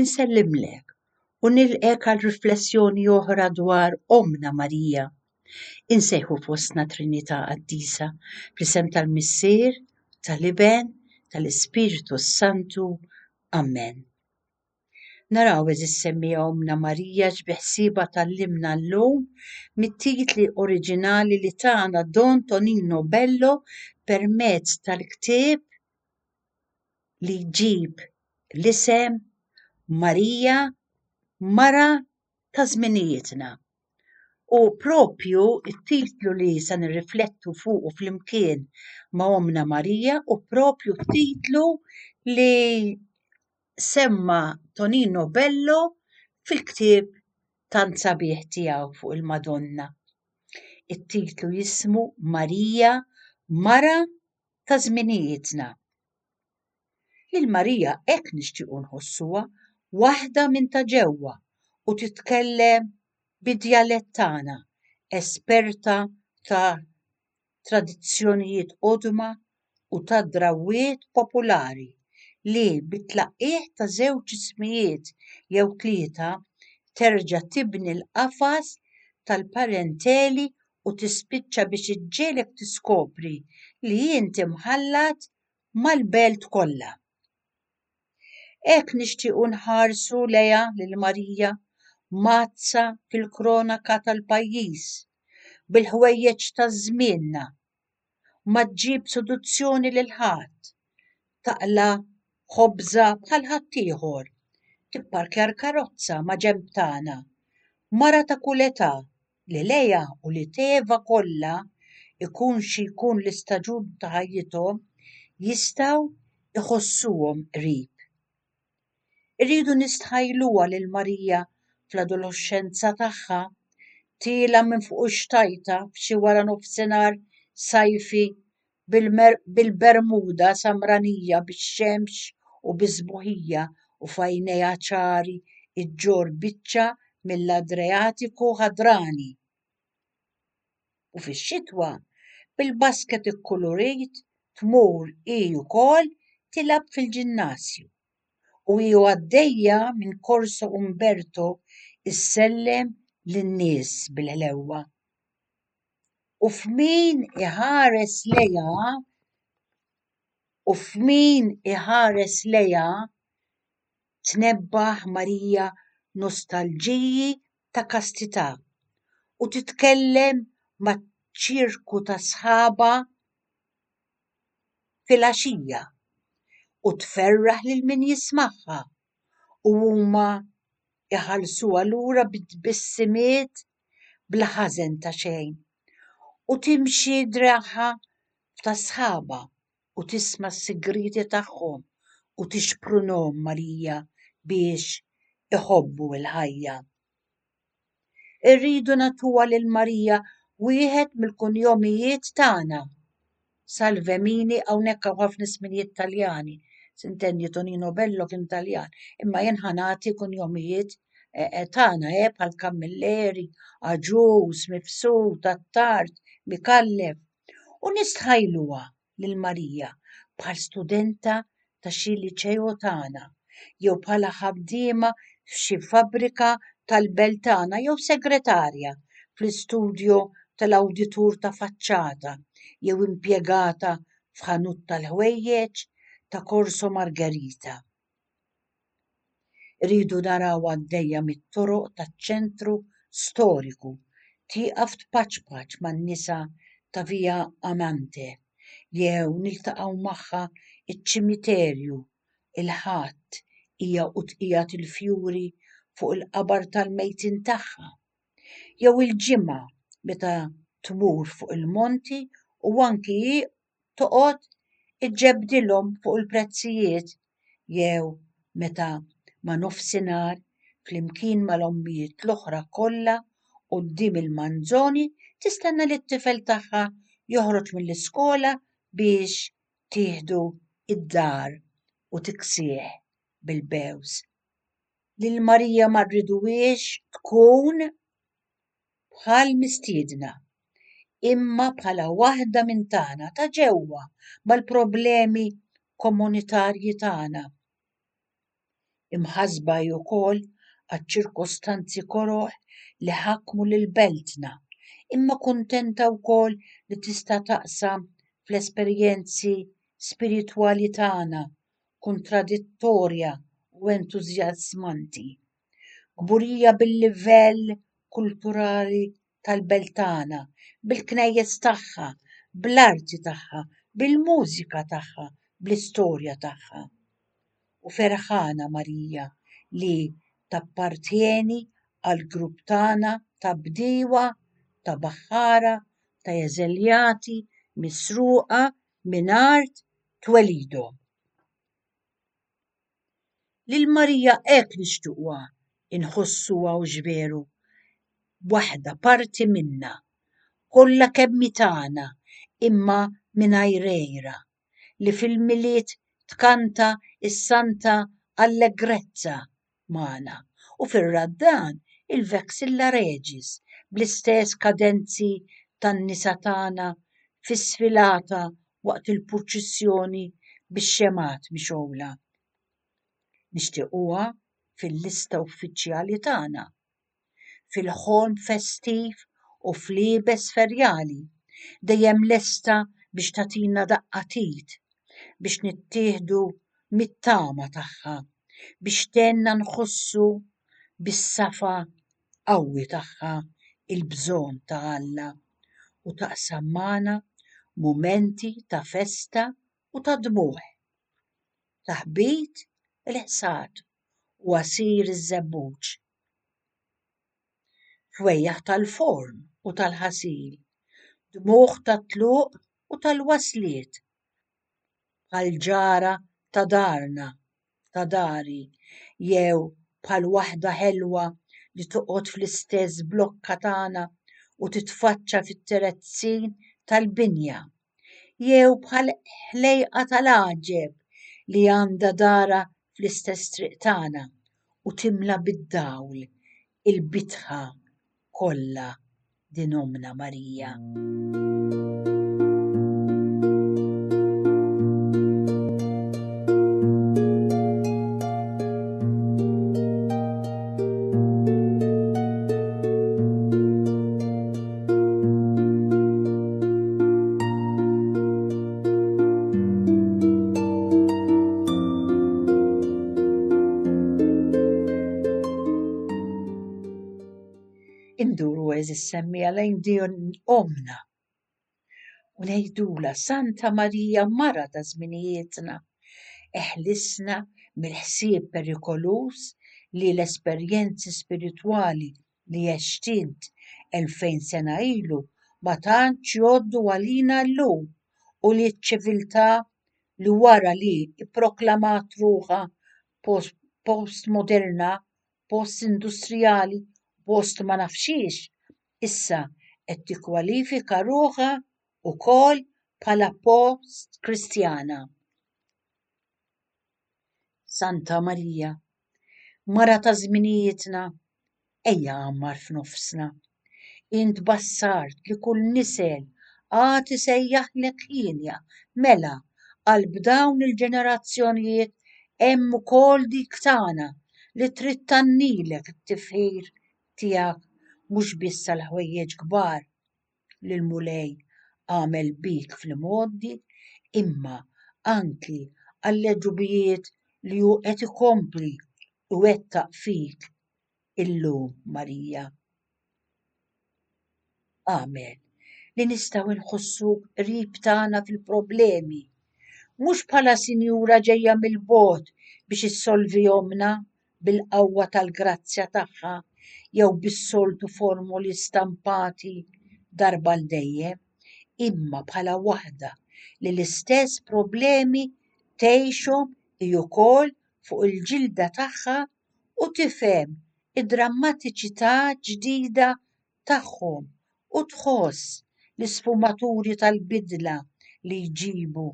Insellimlek u nilqgħek għal riflessjoni oħra dwar Ommna Marija. Insejħu fostna Trinità Qaddisa fl-isem tal-Missier, tal-Iben, tal-Ispirtu s-Santu. Amen. Naraw eżis semmija Ommna Marija x'biħsiebha tallimna llum mit-titli oriġinali li tagħna Don Tonino Bello permezz tal-ktieb li jġib l-isem Marija mara ta' żminijietna. U propju t-titlu li se nirriflettu fuqu flimkien ma' Ommna Marija u propju t-titlu li semma Tonino Bello fil-ktieb tant sabiħ tiegħu fuq il-Madonna. It-titlu jismu Marija mara ta' żminijietna. Lil Marija hekk nixtiequ nħossuha, waħda minn ta' ġewwa u titkellem bid-djalett tagħna, esperta ta' tradizzjonijiet qodma u ta' drawwiet populari li bit-tlaqqigħ ta' żewġ ismijiet jew tlieta terġa' tibni l-qafas tal-parenteli u tispiċċa biex iġġiegħlek tiskopri li int imħallat mal-belt kollha. Hekk nixtiequ nħarsu lejha lil Marija mazza fil-kronaka tal-pajjiż bil-ħwejjeġ ta' żmienna ma ġġib seduzzjoni lil ħadd, taqla' ħobżha bħal ħaddieħor, tipparkja l-karozza ma' ġenb tagħna. Mara ta' kull età, li lejha u li tevha kollha, ikun xi jkun l-istaġun ta' ħajjithom, jistgħu jħossuhom qrib. Irridu nistħajluha lil Marija fl-adoloxxenza tagħha, tiela' minn fuq ix-xtajta f'xi waranofsinhar sajfi bil-bermuda samranija bix-xemx u bis-sbuħija u f'għajnejha ċari ġġorr biċċa mill-Adreatiku ħadrani. u fix-xitwa bil-basket ikkulurit tmur hi wkoll tilgħab fil-ġinnasju u hi għaddejja minn Corso Umberto issellem lin-nies bil-ħlewwa u f'min iħares lejha u f'min iħares lejha tnebbaħ Marija nostalġiji ta' kastità u titkellem maċ-ċirku ta' sħabha filgħaxija u tferraħ lil min jismagħha u huma jħallsuha lura bi tbissimiet bla ħażen ta' xejn u timxi draħha ta' sħabha. u tisma' s-sigrieti tagħhom u tixprunhom malija biex iħobbu l-ħajja. Irridu nagħtuha lil Marija wieħed mill-kunjomijiet tagħna. Salve mini hawnhekk hawn ħafna ismijiet Taljani. Sintendi Tonino Bello kien Taljan, imma jien ħanati kunjomijiet Eh, eh, tagħna eh, bħal Kammilleri, Aġuż, Mifsud, Attard, Mikallef, u nistħajluha lil Marija bħal studenta ta' xi liċeo tagħna jew bħala ħaddiema f'xi fabbrika tal-belt tagħna jew segretarja fl-istudjo tal-awditur ta' faċċata jew impjegata f'ħanut tal-ħwejjeġ ta' Corso Margherita. Rridu naraw għaddejja mit-toroq taċ-ċentru storiku, tieqaf tpaċpaċ man-nisa ta' Via Amante jew niltaqgħu magħha ċ-ċimiterju il-Ħadd hija u tqiegħed il-fjuri fuq il-qabar tal-mejtin tagħha, jew il-Ġimgħa meta tmur fuq il-monti u anki hi toqgħod iġġebbdilhom fuq il-prezzijiet jew meta ma' nofsinhar flimkien mal-ommijiet l-oħra kollha quddiem il-manzoni tistenna lit-tifel tagħha joħroġ mill-iskola biex tieħdu d-dar u tiksih bil-bewż. Lil Marija ma rriduhiex tkun bħal mistiedna, imma bħala waħda minn tagħna ta' ġewwa mal-problemi komunitarji tagħna. Imħassba hi wkoll għaċ-ċirkostanzi koroh li ħakmu lil beltna, imma kuntenta wkoll li tista' taqsam fl-esperjenzi spiritwali tagħna, kuntradittorja u entużjażmanti, Kburija bil-livell kulturali tal-belt tagħna, bil-knejjes tagħha, bl-arti tagħha, bil-mużika tagħha, bl-istorja tagħha. U ferħana Marija li tappartjeni għall-grupp tagħna ta' bdiewa, ta' baħħara, ta' eżiljati misruqa minn art twelidhom. Lil Marija hekk nixtiequha inħossuha hux veru? Waħda parti minna, kollha kemm hi tagħna imma mingħajr għira, li fil-Milied tkanta s-Santa Allegrezza magħna u fir-raddan il-Vexilla Regis bl-istess kadenzi tan-nisa tagħna fis-sfilata waqt il-purċissjoni bix-xemgħat mixgħula. Nixtiequha fil-lista uffiċjali tagħna. fil-ħolm festiv u fl-iebes ferjali, dejjem lesta biex tagħtina daqqa t'id, biex nittieħdu mit-tama tagħha, biex tgħinna nħossu bis-safa qawwi tagħha l-bżonn ta' Alla, u taqsam magħna mumenti ta' festa u ta' dmugħ. Taħbit il-ħsad u għasir iż-żebbuġ. Fwejjaħ tal-forn u tal-ħasil, dmugħ tat-tluq u tal-wasliet, bħal ġara ta' darna, ta' dari, jew bħal waħda ħelwa li toqgħod fl-istess blokka tagħna u titfaċċa fit-terezzin tal-binja. jew bħal ħlejqa tal-għaġeb li għandha darha fl-istess triq tagħna u timla bid-dawl il-bitħa kollha din Ommna Marija. Induru eżis semmija lejn din omna u ngħidula Santa Marija mara ta' żminijietna, eħlisna mill-ħsieb perikoluż li l-esperjenzi spiritwali li heshtint elfejn sena ilu ma tantx jgħoddu għalina llum u li ċ-ċiviltà li wara li pproklamat ruħha postmoderna, postindustrijali u post ma naf x'hiex, issa qed tikkwalifika ruħha wkoll bħala postkristjana. Santa Marija, Mara ta' żminijietna, ejja għammar f'nofsna. Int bassart li kull nisel għad isejjaħlek hienja, mela, qalb dawn il-ġenerazzjonijiet hemm ukoll dik tagħna li trid tgħannilek it-tifħir tiegħek mhux biss għall-ħwejjeġ kbar, li l-Mulej għamel bik fl-imgħoddi, imma anki għall-għeġubijiet li hu qed ikompli jwettaq fik illum, Marija. Agħmel li nistgħu nħossuk qrib tagħna fil-problemi, mhux bħala sinjura ġejja mill-bogħod biex issolvihomna, bil-qawwa tal-grazzja tagħha jew bis-soltu formoli stampati darba għal dejjem, imma bħala waħda li l-istess problemi tgħixhom hi wkoll fuq il-ġilda tagħha u tifhem id-drammatiċità ġdida tagħhom u tħoss l-isfumaturi tal-bidla li jġibu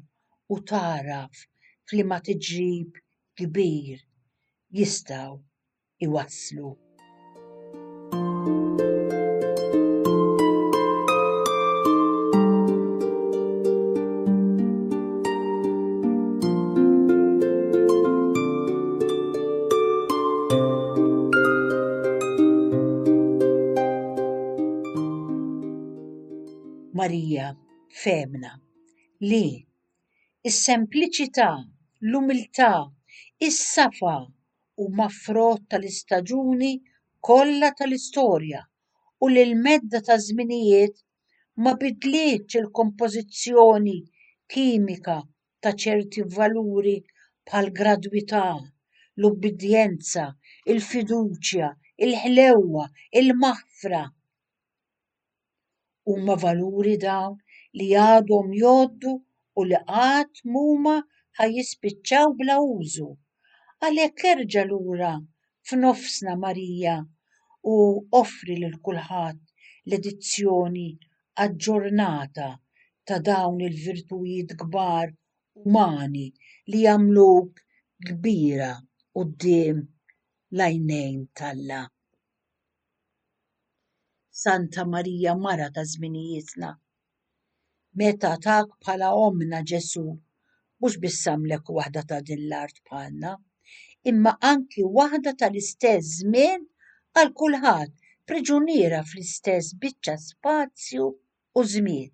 u tagħraf f'liema tiġrib kbir jistgħu jwasslu. Marija femna li is-sempliċità, l-umiltà, is-safa huma frott tal-istaġuni kollha tal-istorja u li l-medda taż-żminijiet ma bidlitx il-kompożizzjoni kimika ta' ċerti valuri bħall-gradwità, l-ubbidjenza, il-fiduċja, il-ħlewwa, il-maħfra. Huma valuri dawn li għadhom jgħoddu u li qatt m'huma ħa jispiċċaw bla użu. Għalhekk erġa' lura f'nofsna Marija u offri lil kulħadd l-edizzjoni aġġornata ta' dawn il-virtujiet kbar umani li jagħmluk kbira quddiem l-għajnejn t'Alla. Santa Marija Mara ta' Żminijietna. Meta tak bħala ommna Ġesu, mhux biss għamlek waħda ta' din l-art bħalna, imma anki waħda tal-istess żmien għal kulħadd, priġuniera fl-istess biċċa spazju u żmien.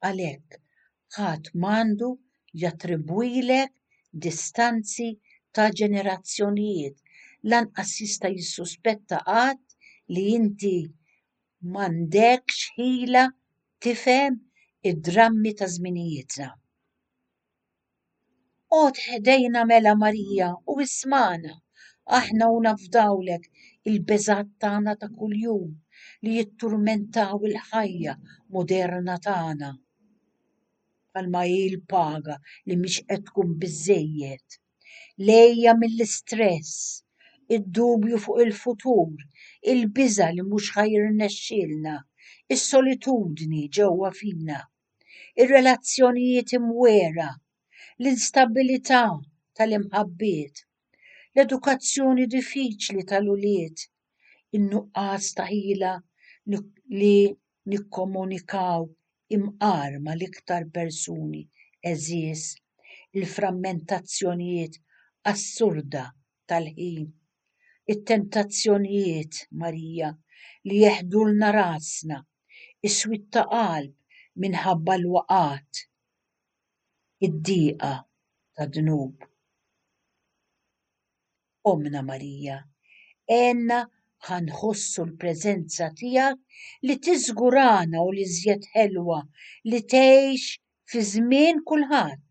Għalhekk, ħadd m'għandu jattribwilek distanzi ta' ġenerazzjonijiet, lanqas jista' jissuspetta qatt li inti, M'għandekx ħila tifhem id-drammi ta' żminijietna. Qgħod ħdejna mela Marija u ismagħna, aħna u nafdawlek il-beżgħat tagħna ta' kuljum li jitturmentaw il-ħajja moderna tagħna bħalma hi l-paga li mhix qed tkun biżżejjed. lejja mill-istress, id-dubju fuq il-futur, il-biża' li mhux ħa jirnexxielna, is-solitudni ġewwa fina, ir-relazzjonijiet imwiegħra, l-instabilità tal-imħabbiet, l-edukazzjoni diffiċli tal-ulied, in-nuqqas ta' ħila li nikkomunikaw imqar mal-iktar persuni għeżież, il-frammentazzjonijiet assurda tal-ħin, it-tentazzjonijiet, Marija, li jeħdulna rasna, is-swied ta' qalb minħabba l-waqgħat, id-diqa tad-dnub. Ommna Marija, għenna ħa nħossu l-preżenza tiegħek li tiżgurana u l-iżjed ħelwa li tgħix fi żmien kulħadd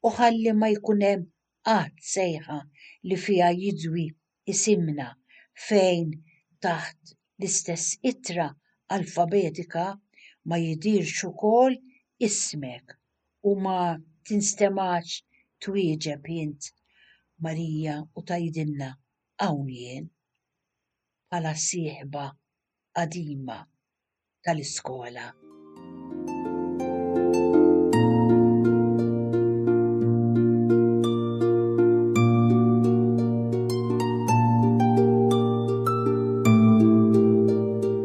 u ħalli ma jkun hemm qatt sejħa li fiha jidwi isimna fejn taħt l-istess ittra alfabetika ma jidhirx ukoll ismek. u ma tinstemax twieġeb int Marija u tgħidilna hawn jien bħala sieħba qadima tal-iskola.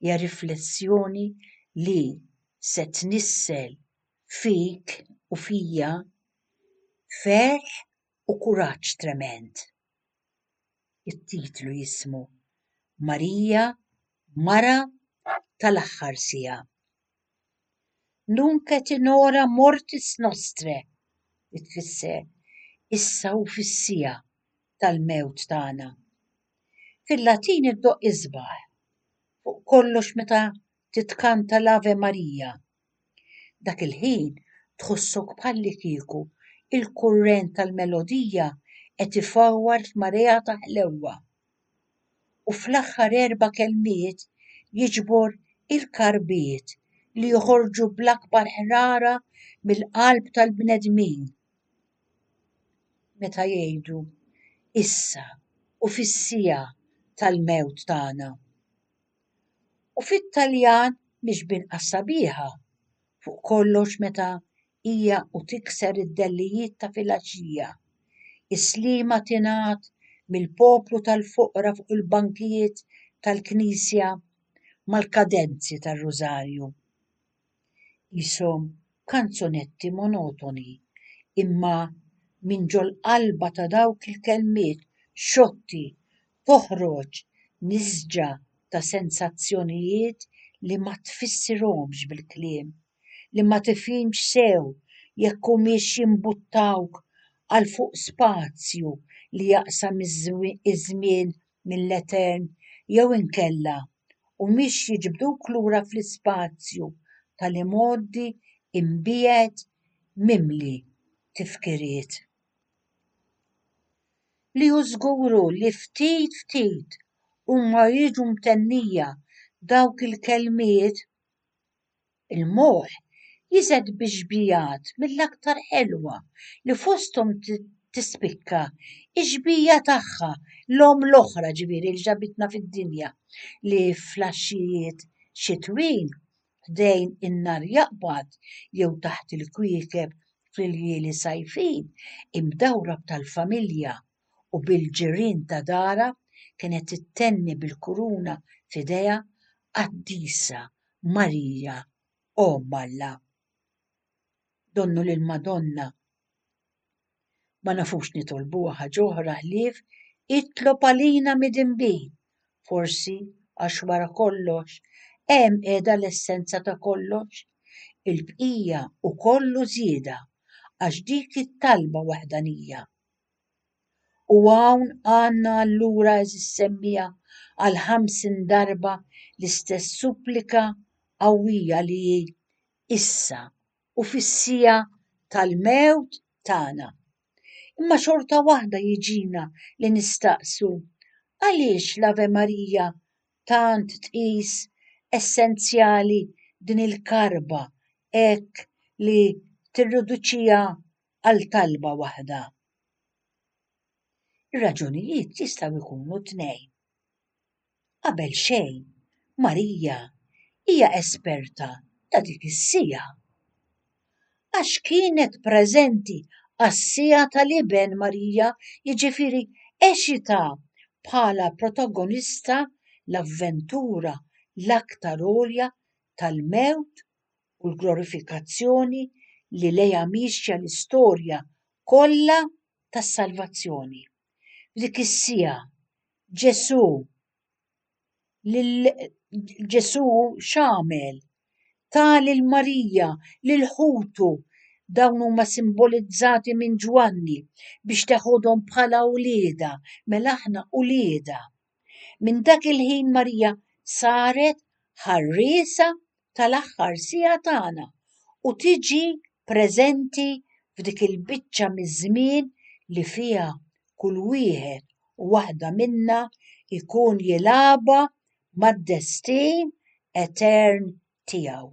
Hija riflessjoni li se tnissel fik u fija ferħ u kuraġġ tremend. It-titlu jismu Marija, Mara tal-Aħħar Siegħa. Nunc et in hora mortis nostrae, li tfisser issa u fis-siegħa tal-mewt tagħna. Fil-Latin iddoqq isbaħ, fuq kollox meta titkanta l-Ave Maria. Dak il-ħin tħossok bħallikieku l-kurrent tal-melodija qed ifawwar f'marea ta' ħlewwa. u fl-aħħar erba' kelmiet jiġbor il-karbiet li joħorġu bl-akbar ħrara mill-qalb tal-bnedmin meta jgħidu, Issa u fis-siegħa tal-mewt tagħna. u fit-Taljan mhix b'inqas sabiħa, fuq kollox meta hija u tikser id-dellijiet ta' filgħaxija. Is-slima tingħad mill-poplu tal-foqra fuq il-bankijiet tal-knisja mal-kadenzi tar-rużarju. Qishom kanzunetti monotoni, imma minn ġol-qalba ta' dawk il-kelmiet xotti toħroġ nisġa ta' sensazzjonijiet li ma tfissirhomx bil-kliem, li ma tifhimx sew jekk humiex jimbuttawk għal fuq spazju li jaqsam iż-żmien mill-Etern jew inkella humiex jiġbduk lura fl-ispazju tal-imgħoddi mbiegħed mimli tifkiriet, li hu żguru li ftit ftit huma jiġu mtennija dawk il-kelmiet. Il-moħħ jiżgħed bi xbijat mill-aktar ħelwa li fosthom tispikka x-xbija tagħha l-omm l-oħra ġifieri li ġabitna fid-dinja li fl-għaxijiet xitwin ħdejn in-nar jaqbad jew taħt il-kwiekeb fl-iljieli sajfin imdawra b'tal-familja u bil-ġirien ta' darha kienet ittenni bil-kuruna f'idejha Qaddisa Marija Omm Alla. Donnu lill-Madonna ma nafux nitolbuha ħaġ'oħra ħlief Itlob għalina midinbi! Forsi għax wara kollox hemm qiegħda l-essenza ta' kollox, il-bqija hu kollu żieda għax dik it-talba waħdanija, U hawn għandna allura eżis semmija għal ħamsin darba l-istess supplika qawwija li hi issa u fis-siegħa tal-mewt tagħna. Imma xorta waħda jiġina li nistaqsu għaliex l-Ave Marija tant tqis essenzjali din il-karba hekk li tirriduċiha għal talba waħda. Ir-raġunijiet jistgħu jkunu tnejn. Qabel xejn, Marija hija esperta ta' dik is-siegħa għax kienet preżenti għas-siegħa tal-Iben Marija, jiġifieri eċita bħala protagonista l-avventura l-aktar għolja tal-mewt u l-glorifikazzjoni li lejha miexja l-istorja kollha tas-salvazzjoni. F'dik is-siegħa Ġesù Ġesù x'għamel? Ta lil Marija, lil ħutu, dawn huma simbolizzati minn Ġwanni biex teħodhom bħala uliedha, mela aħna uliedha. Minn dak il-ħin Marija saret ħarriesa tal-aħħar siegħa tagħna u tiġi preżenti f'dik il-biċċa miż-żmien li fiha kull wieħed u waħda minna jkun jilgħabha mad-destin etern tiegħu.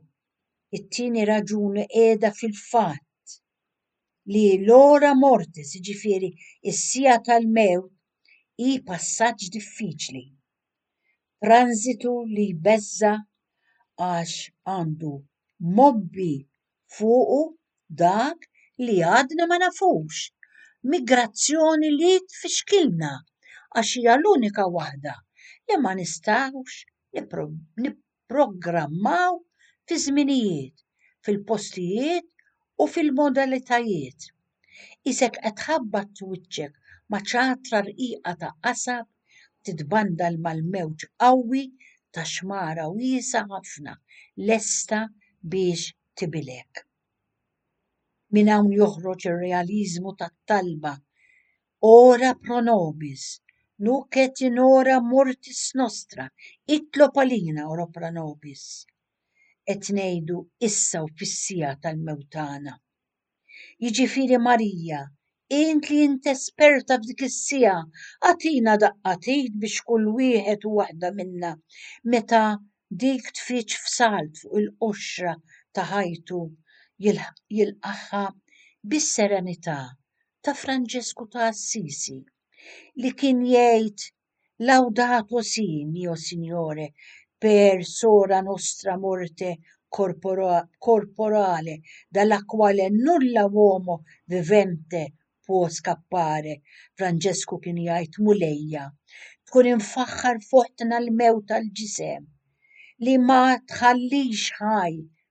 It-tieni raġuni qiegħda fil-fatt li l-hora mortis, jiġifieri s-siegħa tal-mewt, hi passaġġ diffiċli, tranżitu li jbeżża' għax għandu mgħobbi fuqu dak li għadna ma nafux, migrazzjoni li tfixkilna għax hija l-unika waħda li ma nistgħux jipprogrammaw fiż-żminijiet, fil-postijiet u fil-modalitajiet. Qisek qed tħabbat wiċċek ma' ċatra rqiqa ta' qasab titbandal mal-mewġ qawwi ta' xmara wiesgħa ħafna lesta biex tibilgħek. Minn hawn joħroġ ir-realiżmu tat-talba Ora pro nobis, nunc et in hora mortis nostra, itlob għalina, ora pro nobis. Qed ngħidu issa u fis-siegħa tal-mewt tagħna. Jiġifieri Marija, int li int esperta f'dik is-siegħa, agħtina daqqa t'id biex kull wieħed u waħda minna meta dik tfiġġ f'salt fuq il-qoxra ta' ħajtu jilqagħha bis-serenità ta' Franġesku ta' Assisi li kien jgħid Laudato si, mio Signore, per sora nostra morte corporale dalla quale nulla uomo vivente può scappare, Franġesku kien jgħid Mulejja, tkun imfaħħar f'oħtna l-mewt tal-ġisem li ma tħallix ħaj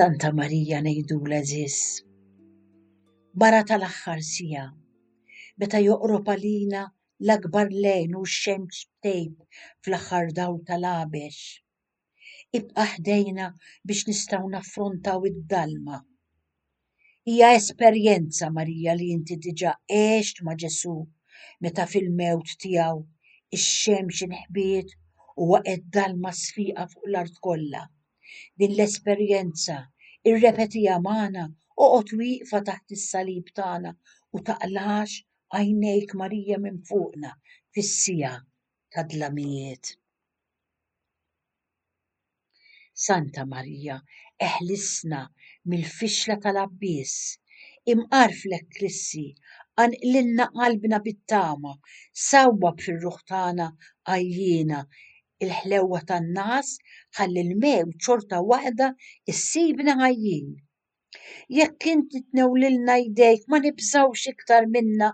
Santa Marija nejdu l-eżis. Bara tal-axħar sija, meta joqrob għalina l-akbar lejn u x-xemx tejb fl-axħar dawl tal-għabex. Ibqa' ħdejna biex nistgħu naffrontaw id-dalma. Hija esperjenza, Marija, li inti diġà għext ma' Ġesù meta fil-mewt tiegħu ix-xemx inħbiet u waqgħet dalma sfiqa fuq l-art kollha. Din l-esperjenza irrepetiha magħna, oqgħod wieqfa taħt is-salib tagħna u taqlax għajnejk Marija minn fuqna fis-siegħa tad-dlamijiet. Santa Marija, eħlisna mill-fixla tal-abbiss, imqar fl-Eklissi, qanqlilna qalbna bit-tama, sawwab fir-ruħ tagħna għajjiena, il-ħlewwa tan-nagħas ħalli l-mewt xorta waħda ssibna ħajjin. Jekk inti tnewlilna jdejk ma nibżgħux iktar minna,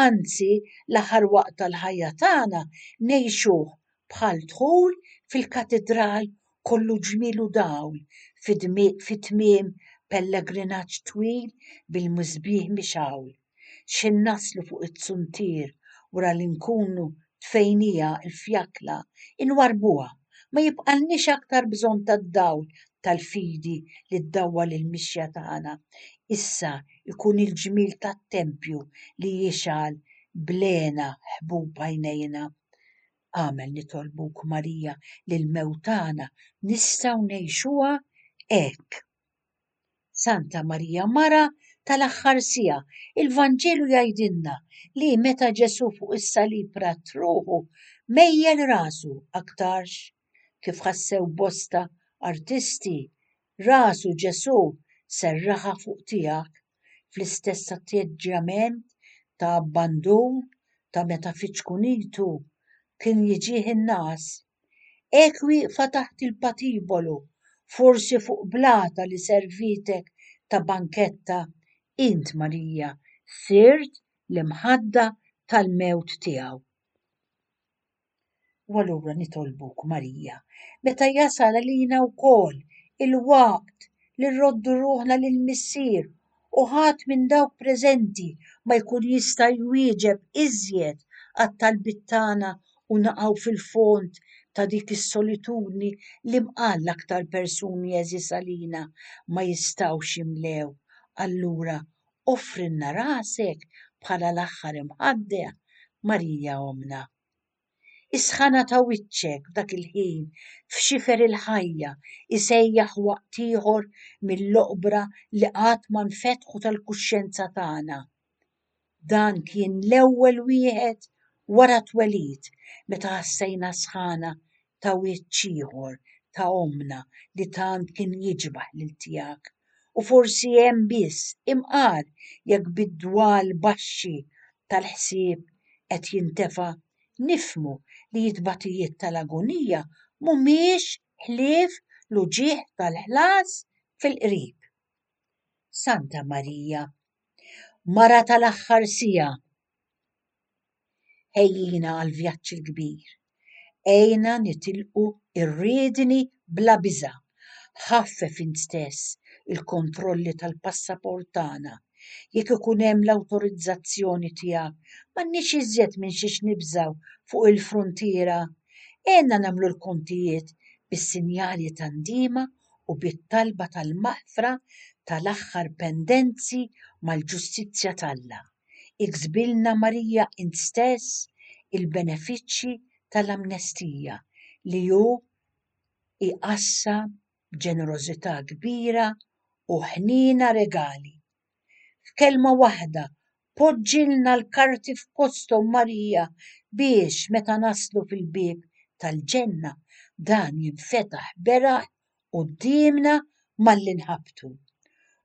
anzi l-aħħar waqt tal-ħajja tagħna ngħixuh bħal dħul fil-katidral kollu ġmiel u dawl fi tmiem pellegrinaġġ twil bil-misbieħ mixgħul. x'ħin naslu fuq it-tsuntier wara li nkunu tfejnija l-fjakla inwarrbuha, ma jibqalniex aktar bżonn tad-dawl tal-fidi li ddawwal il-mixja tagħna, issa jkun il-ġmiel tat-tempju li jixgħal bl-hena ħbub għajnejna. Amen Nitolbuk Marija li l-mewt tagħna nistgħu ngħixuha hekk. Santa Marija Mara tal-aħħar siegħa, il-Vanġelu jgħidilna li meta Ġesù fuq is-salib ra truħu mejjel rasu aktarx kif ħassew bosta artisti, rasu Ġesù serraħha fuq tiegħek fl-istess atteġġjament ta' abbandun ta' meta fi ċkunitu kien jiġih in-ngħas. Ekwi fataħt il-patibolu, forsi fuq blata li servitek ta' banketta, int, Marija, sirt l-imħadda tal-mewt tiegħu. U allura nitolbuk, Marija, meta jasal għalina wkoll il-waqt li nroddu ruħna lill-Missier u ħadd minn dawk preżenti ma jkun jista' jwieġeb iżjed għat-talbiet tagħna u naqgħu fil-fond ta' dik is-solitudni li mqal l-aktar persuni għeżież għalina ma jistgħux jimlew, allura offrilna rasek bħala l-aħħar imħaddegħ, Marija Ommna. Is-sħana ta' wiċċek f'dak il-ħin f'xifer il-ħajja jsejjaħ waqt ieħor mill-oqbra li qatt ma nfetħu tal-kuxjenza tagħna. Dan kien l-ewwel wieħed wara t-twelid meta ħassejna s-sħana ta' wiċċ ieħor ta' ommna li tant kien jiġbah lil tiegħek, u forsi hemm biss imqar jekk bid-dwal baxxi tal-ħsieb qed jintefa' nifhmu li t-tbatijiet tal-agunija mhumiex ħlief l-uġigħ tal-ħlas fil-qrib. Santa Marija, Mara tal-Aħħar Siegħa! Ħejjina għall-vjaġġ il-kbir. Għinna nitilqu r-riedni bla biża'. Ħaffef int stess il-kontrolli tal-passaport tagħna. Jekk ikun hemm l-awtorizzazzjoni tiegħek, m'għandniex iżjed minn xiex nibżgħu fuq il-fruntiera. Għinna nagħmlu l-kontijiet bis-sinjali ta' ndiema u bit-talba tal-maħfra tal-aħħar pendenzi mal-ġustizzja t'Alla. iksbilna Marija int stess il-benefiċċji tal-amnestija li hu jqassam b'ġenerożità kbira u ħniena regali. F'kelma waħda, poġġilna l-karti f'posthom Marija biex meta naslu fil-bieb tal-ġenna dan jinfetaħ beraħ quddiemna malli nħabbtu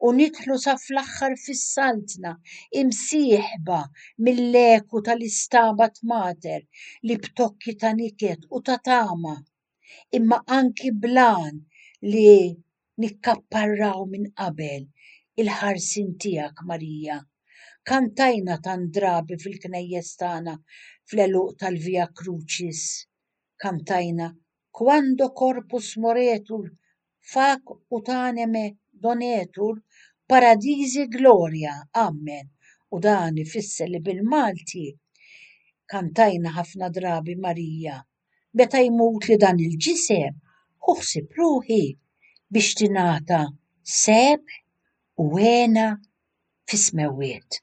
u nidħlu sa fl-aħħar fis-Saltna imsieħba mill-eku tal-Istabat Mater li b'tokki ta' niket u ta' tama imma anki bl-għan li nikkapparraw minn qabel il-ħarsien tiegħek Marija. Kantajna tant drabi fil-knejjes tagħna fl-għeluq tal-Via Crucis, kantajna Quando corpus moretur, fac ut aneme donetur, Paradisi gloria, amen. U dan ifisser li bil-Malti kantajna ħafna drabi Marija, meta jmutli dan il-ġisem, ħu ħsieb ruħi biex tingħata sebħ u hena fis-smewwiet.